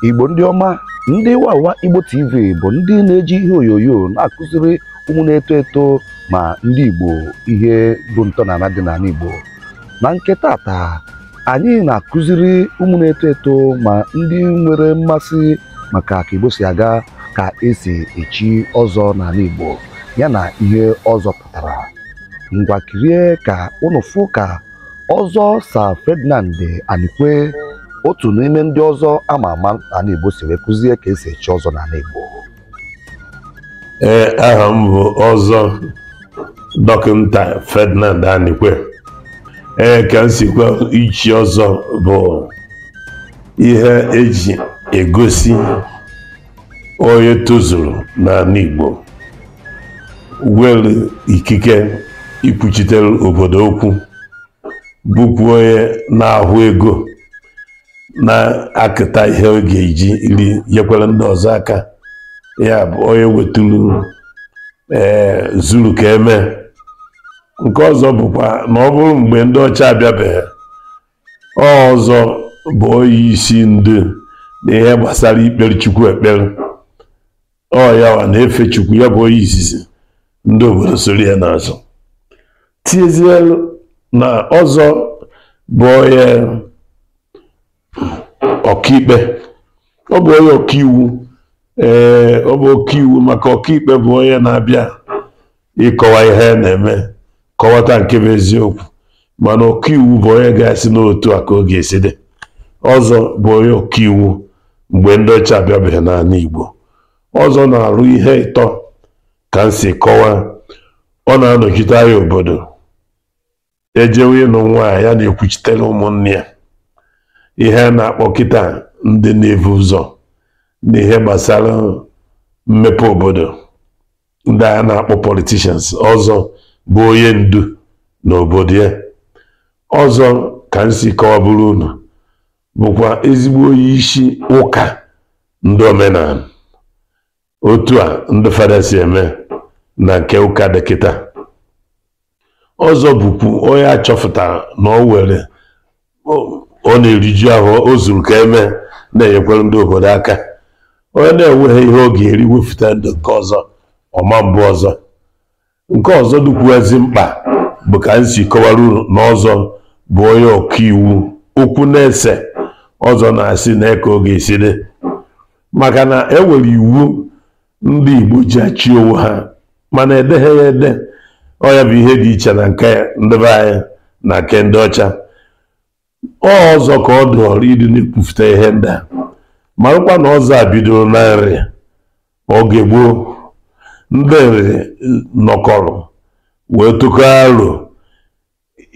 igbo ndị ọma ndị wawa igbo tv bụ ndị na-eji ihe onyonyo na-akụziri ụmụ na-eto eto ma ndị igbo ihe bụ ntọala dị n'ala igbo na nke tata anyị na-akụziri ụmụ na-eto eto ma ndị nwere mmasị maka ka Igbo si aga ka esi echi ọzọ n'ala Igbo ya na ihe ọzọ pụtara ngwa kirie ka ụnụ fụ ka ọzọ Sir Ferdinand Anikwe otu n'ime ndị ọzọ ama ama n'ala Igbo si wee kụzie ka esi echi ọzọ n'ala Igbo ee aha m bụ ọzọ dọkịta Ferdinand Anikwe ee ka m si kọwa ichi ọzọ bụ ihe eji egosi onye tozuru n'ala Igbo were ikike ikwuchitere obodo okwu bụkwa onye na-ahụ ego na-akụta ihe ọ ga-eji iri nyekwara ndị ọzọ aka ya bụ onye weturu ee eh, zuru ka eme nke ọzọ bụkwa na ọ bụrụ mgbe ndị ọcha abịabeghị ọzọ bụ onye isi ndu na ihe gbasara ikpere chukwu ekpere ọ yawa na-efe chukwu ya bụ onye izizi ndị obodo soro ya n'azụ tiezie na ọzọ bụ onye ọkaikpe ọ bụ onye ọkaiwu ee ọ bụ ọkaiwu maka ọkaikpe bụ onye na-abịa ịkọwa ihe na-eme kọwata nke bụ eziokwu mana ọkaiwu bụ onye ga-asị na otu a ka ọ ga-esi dị ọzọ bụ onye ọkaiwu mgbe ndị ọcha abịabeghị n'ala Igbo ọzọ na-arụ ihe ịtọ ka m si kọwa ọ na-anọchite anya obodo ejewe ịnụ nwanyị ya na-ekwuchitere ụmụnne ya ihe a na-akpọ kịta ndị na-ebu ụzọ n'ihe gbasara mmepe obodo ndị a na-akpọ politicians ọzọ bụ onye ndu na obodo ya ọzọ ka m si kọwaburu unu bụkwa ezigbo onye isi ụka ndị omenala otu a ndị fada si eme na nke ụka dị kịta ọzọ bụkwu onye achọpụtara na ọ were ọ na-eriju afọ o zuru ka eme na-enyekwara ndị obodo aka onye na-enweghị ihe ọ ga-eri wepụta ndị nke ọzọ ọ ma bụ ọzọ nke ọzọ dịkwuazị mkpa bụ ka m si kọwara unu na ọzọ bụ onye ọkaiwu okwu na-ese ọzọ na-asị na eke oge esi dị maka na e nwere iwu ndị Igbo ji achị onwe ha mana edeghị ya ede ọ ya bụ ihe dị iche na nke ndị be anyị na nke ndị ọcha ọzọ ka ọ dụọrọ ịdị na-ekwufụta ihe ndị a marakwa na ọzọ a bidoro na Nri oge gboo ndị Nri nọkọrọ wee tụkọọ aro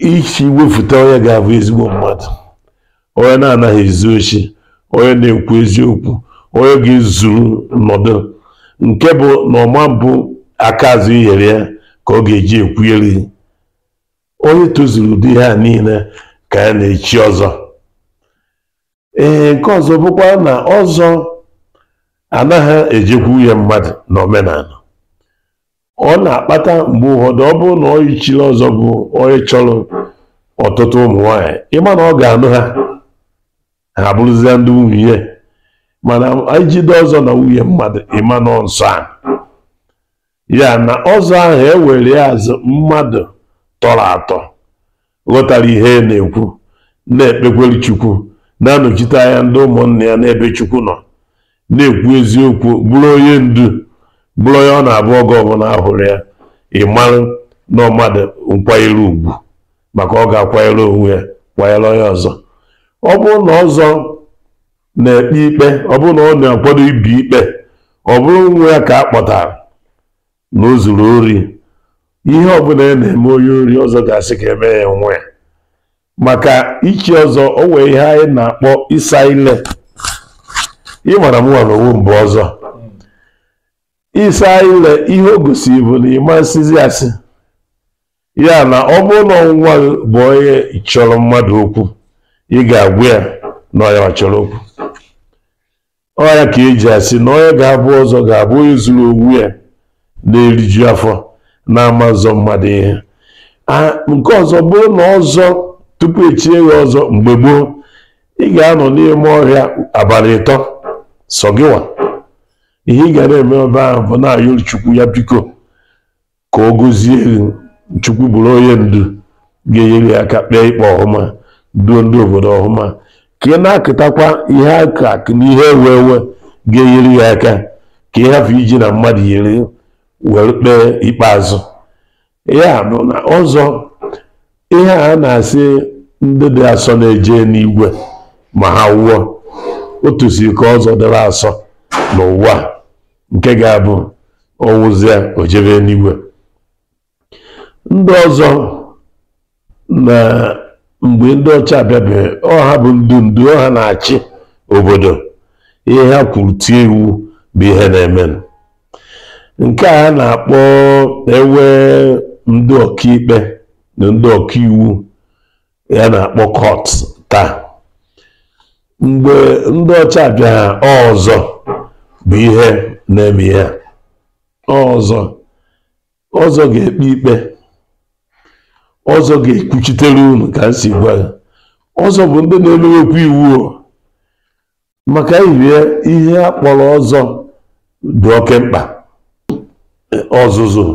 isi wefụta onye ga-abụ ezigbo mmadụ onye na-anaghị ezu oshi onye na-ekwu eziokwu onye ga-ezuru nọdụ nke bụ na ọ ma mbụ aka azụ e nyere ya ka ọ ga-eji ekwugheri onye tozuru ụdị ihe a niile ka ya na-echi ọzọ ee nke ọzọ bụkwa na ọzọ anaghị ejekwu nwunye mmadụ n'omenala ọ na-akpata mgbe ụfọdụ ọ bụrụ na onye chiri ọzọ bụ onye chọrọ ọtụtụ ụmụ nwaanyị ị ma na ọ ga-anụ ha ha abụrụzie ndị nwunye mana i jide ọzọ na nwunye mmadụ ị ma na ọ nsọ a ya na ọzọ ahụ e were ya as mmadụ tọrọ atọ ghọtara ihe e na-ekwu na-ekpekwere chukwu na-anọchite anya ndị ụmụnna ya n'ebe chukwu nọ na-ekwu eziokwu bụrụ onye ndu bụrụ onye ọ na-abụ oge ọbụla a hụrụ ya ị marụ na ọ mmadụ nkwanyere ugwu maka ọ ga-akwanyere onwe ya kwanyere onye ọzọ ọ bụrụ na ọzọ na-ekpe ikpe ọ bụrụ na ọ na-akwado ibi ikpe ọ bụrụ nwa ya ka a kpọtara na o zuru ori ihe ọbụla a na-eme onye ori ọzọ ga-asị ka e mee ya nwa ya maka ichi ọzọ o nwee ihe anyị na-akpọ ịsa ile ị mara mụwa n'onwe m bụ ọzọ ịsa ile ihe o gosiri bụ na ị ma nsịzi asị ya na ọ bụrụ na nwa gị bụ onye chọrọ mmadụ okwu ị ga-agwa ya na ọ ya chọrọ okwu ọ ya ka e ji asị na onye ga-abụ ọzọ ga-abụ onye zuru onwe ya na-eriju afọ na-ama nzọ mmadụ ihe nke ọzọ bụ na ọzọ tupu e chie gị ọzọ mgbe gboo ị ga-anọ n'ime ọhịa abalị ịtọ sọ gịwa ihe ị ga na-eme ebe ahụ bụ na-ayọ chukwu ya biko ka ọ gọzie gị chukwu bụrụ onye ndu ga-enyere gị aka kpee ikpe ọhụma duo ndị obodo ọhụma ka ị na-akụtakwa ihe akụ akụ na ihe enwe enwe ga-enyere gị aka ka ị hafụ iji na mmadụ nyere were kpee ikpe azụ ya bụ na ọzọ ihe a na-asị ndị dị asọ na-eje n'igwe ma ha nwụọ otu si ka ọzọ dịrị asọ n'ụwa nke ga-abụ ọ nwụzie o jebe eluigwe ndị ọzọ na mgbe ndị ọcha abịabeghị ọ ha bụ ndị ndu ọ ha na-achị obodo ihe ha kwuru tie iwu bụ ihe na-eme nke a na-akpọ e nwe ndị ọkaikpe na ndị ọkaiwu ya na-akpọ court taa mgbe ndị ọcha abịaghị ọzọ bụ ihe na-eme ya ọzọ ọzọ ga-ekpe ikpe ọzọ ga-ekwuchitere unu ka m si gwa ọzọ bụ ndị na-emewekwa iwu maka ya bụ ihe a kpọrọ ọzọ dị oke mkpa ọzụzụ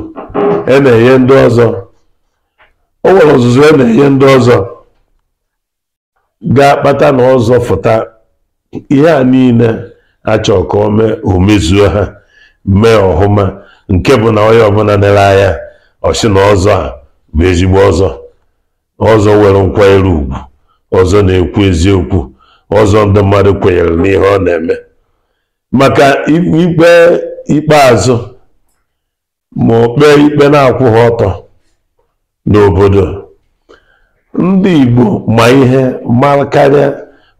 e na-enye ndị ọzọ o nwere ọzụzụ e na-enye ndị ọzọ ga-akpata na ọzọ fụta ihe a niile a chọrọ ka o mee o mezuo ha mee ọhụma nke bụ na onye ọbụla lere anya ọ sị na ọzọ a bụ ezigbo ọzọ ọzọ nwere nkwanyere ugwu ọzọ na-ekwu eziokwu ọzọ ndị mmadụ kwenyere n'ihe ọ na-eme maka ikpe ikpeazụ ma o kpee ikpe na-akwụghị ọtọ n'obodo ndị Igbo ma ihe mara karịa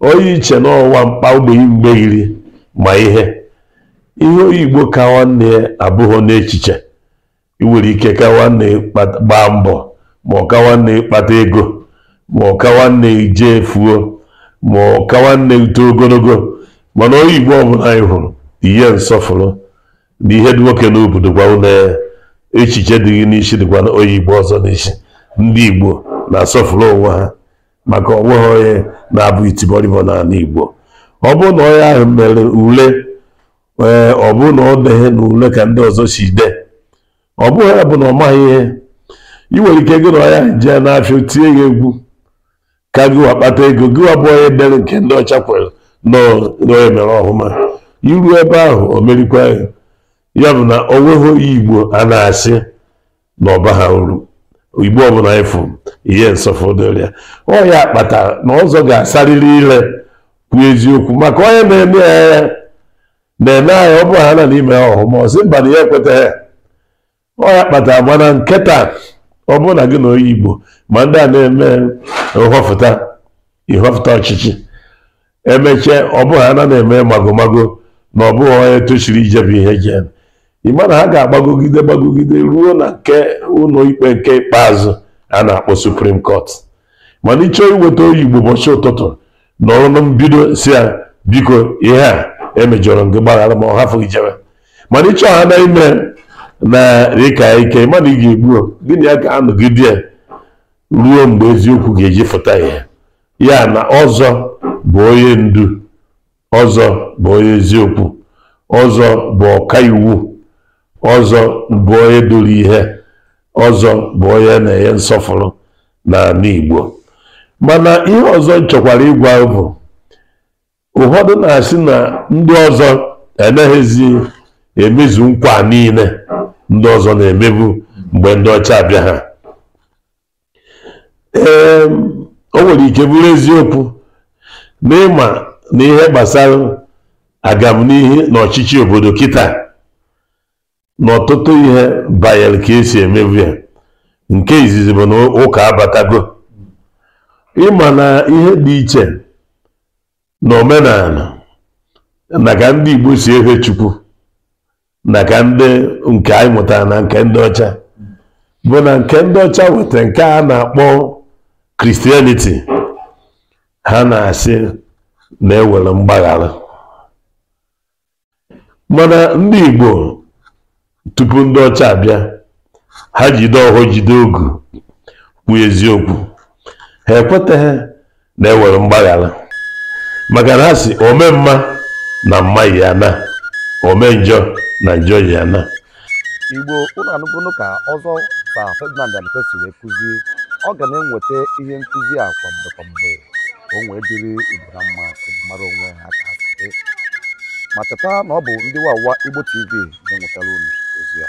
onye ị che na ọ nwa mkpa ogbenye mgbeghiri ma ihe ihe onye Igbo ka nwanne ya abụghị n'echiche ị nwere ike ka nwanne ịgba mbọ ma ọ ka nwanne ịkpata ego ma ọ ka nwanne ije efuo ma ọ ka nwanne ito ogologo mana onye igbo ọbụla ị hụrụ nye nsọfụrụ na ihe dị nwoke n'obi dịkwa unu echiche dị gị n'isi dịkwa na onye igbo ọzọ n'isi ndị igbo na-asọfụrụ onwe ha maka o nweghị onye na-abụ itibọrịbọ n'ala igbo ọ bụrụ na onye ahụ mere ule ee ọ bụrụ na ọ deghị na ule ka ndị ọzọ si dee ọ bụghị ya bụ na ọ maghị ihe ị nwere ike gị na ya jee n'afịa o tinye gị egwu ka gị wa kpata ego gị wa bụ onye dere nke ndị ọcha kwere na onye mere ọhụma i ru ebe ahụ o merikwa ya bụ na o nweghị onye igbo a na-asị na ọ baghị uru igbo ọbụla ị fụ nye nsọfụrụ dịrị ya ọ ya kpata na ọzọ ga-asarịrị ire kwuo eziokwu maka onye na-ele ya anya na-ele anya ọ bụrụ ha na i me ọhụma ọ sị mba na ya ekwetaghị ọ ya kpata mana nke taa ọ bụrụ na gị na onye igbo ma ndị a na-eme nhọfụta ịhọfụta ọchịchị emechie ọ bụghị ha na na-eme magomago na ọ bụghị onye tochiri ijebe ihe jen ịma na ha ga-agbagogide gbagogide ruo na nke ụlọ ikpe nke ikpeazụ a na-akpọ supreme court mana ịchọọ iweta onye igbo ụbọchị ụtụtụ nọrọ na mbido sị ya biko ihe a emejọrọ gị gbaghara ma ọ hafụ gị jebe mana ịchọ ha na ime na ịka ike mana ị ga-egbu gịnị ya ga-anọgide ruo mgbe eziokwu ga-eji fụta ihe ya na ọzọ bụ onye ndu ọzọ bụ onye eziokwu ọzọ bụ ọka iwu ọzọ bụ onye duru ihe ọzọ bụ onye na-enye nsọfụrụ n'ala Igbo mana ihe ọzọ m chọkwara ịgwa bụ ụfọdụ na-asị na ndị ọzọ anaghịzi emezu nkwa niile ndị ọzọ na-emebu mgbe ndị ọcha abịaha ee o nwere ike bụrụ eziokwu na ịma na ihe gbasara agamnihu na ọchịchị obodo kịta na ọtụtụ ihe banyere ka e si emebu ya nke izizi bụ na ụka abatago ịma na ihe dị iche na omenala na ka ndị Igbo si efe Chukwu na ka ndị nke anyị mụtara na nke ndị ọcha bụ na nke ndị ọcha weta nke a na-akpọ christianity ha na-asị na enwere mgbaghara mana ndị Igbo tupu ndị ọcha abịa ha jide ọhọ jide ogu kwu eziokwu ha ekwetaghị na enwere mgbaghara maka na ha sị ome mma na mma ya na ome njọ na njọ ya na igbo unu anụgonu ka ọzọ sir ferdinand anikwe si wee kụzi ọ ga na-eweta ihe nkụzi a kwa mgbe kwa mgbe ka o wee dịrị igbo na mma ka igbo mara onwe ha ka ha si dị ma cheta na ọ bụ ndị wawa igbo tv na-ewetara unu ozi a